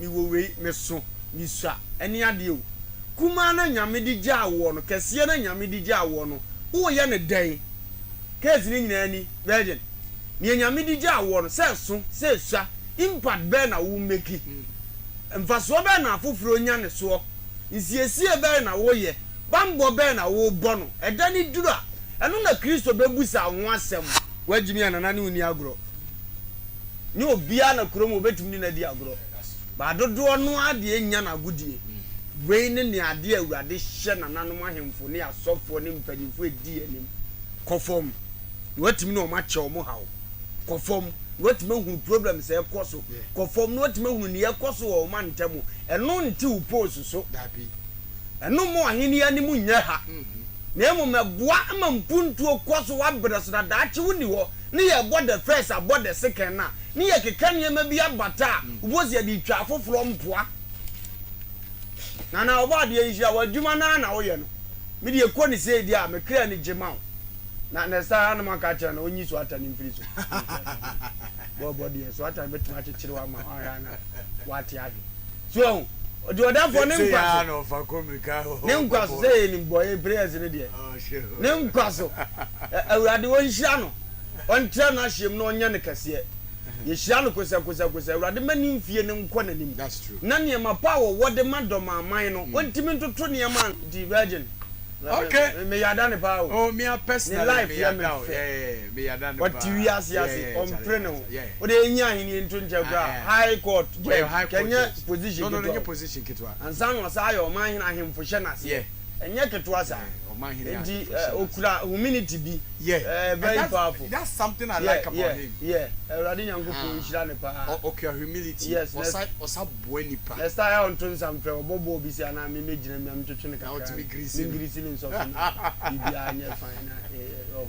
Mewɔ wei, meso, misua, ɛne adeɛ o. Kumaa no a Nyame de gyaa woɔ no, kɛseɛ no a Nyame de gyaa woɔ no, woreyɛ no dɛn? Case no nyinaa ni, Virgin. Nea Nyame de gyaa woɔ no, sɛ ɛso, sɛ ɛsua, impact bɛn na wo meki? Mfasoɔ bɛn na afoforɔ nya ne soɔ? Nsiesie bɛn na woyɛ? Bammɔ bɛn na wobɔ no? Ɛda no duru a, ɛno na Kristo bɛbusa wo ho asɛm. Woagyimi anana ne wo nni agorɔ. nyɛ obiara na kurom hɔ bɛtumi ne no adi agorɔ, baa dodoɔ no ara deɛ nnya no agodie. Wei ne nea adeɛ a Awurade hyɛ nananom ahemfo ne asɔfoɔ ne mpanimfoɔ a ɛdi anim, Kɔ fam, na woatumi ne wɔn akyɛ wɔn haw. Kɔ fam, na woatumi ahunu problems a ɛrekɔ so. Kɔ fam, na woatumi ahunu nea ɛrekɔ so wɔ wo mantam mu. Ɛno nte wo poles so. Ɛno mma w'ahennie anim nyɛ ha. Na mmom ɛboa ma mpuntuo kɔ so wɔ berɛ so, na daakye wonni hɔ. ne yɛbɔ the first abɔ the second no a, ne yɛkeka nneɛma bi abata a, wobɛhu sɛ yɛde retwa afoforɔ mpoa. Nana Ɔbɔadeɛ nhyira, w'adwuma no ara na woyɛ no. Me deɛ kɔ no sei deɛ a, me kra ani gye ma wo. Na next time ara na moaka akyerɛ no, ɔnyi soatane mfiri so. Bɔɔlbɔ deɛ, soatane bɛtumi akyekyere wo ama woahwɛ a na woate ahwe. So ahu? Ɔde ɔdafoɔ ne nkwa so. Ne nkwa so, sɛ yɛnim bɔyɛ prayers no deɛ. Ne nkwa so. Awurade ɔnhyira no, ɔntra n'ahyeɛm na ɔnyɛ no kɛseɛ. Yɛhyira no kosɛkosɛkosɛ. Awurade mma ne mfie no nkɔ n'anim. Na nneɛma pa a wɔwɔ de ma dɔmaaman no, wɔntumi ntoto nneɛma nti Virgin, meyada no paa o. Ne life yɛ me fɛ. Ɔte wiase ase, ɔmpere ne ho. Wode yɛnyi ahennie nto nkyɛn koraa a, High Court Judge, kɛnyɛ position ketewa. Ansa na ɔsan ayɛ ɔmanhene, ahemfo hyɛ no aseɛ. ɛnyɛ ketewa saa nti okura huminity bi ɛɛ very powerful that's something I like about him yɛ ɛwurade nyankopɔn nhyira ne paa okura humility yes ɔsa ɔsa boa nipa next time a ɔnto nsa mfrɛ ɔbɔ bɔɔl bi si anaa mi mi gyina mi mi twetwe ne kakra mi ngirisi ne nsɔfo na bibi a nyɛ fine na ɛɛ ɔho.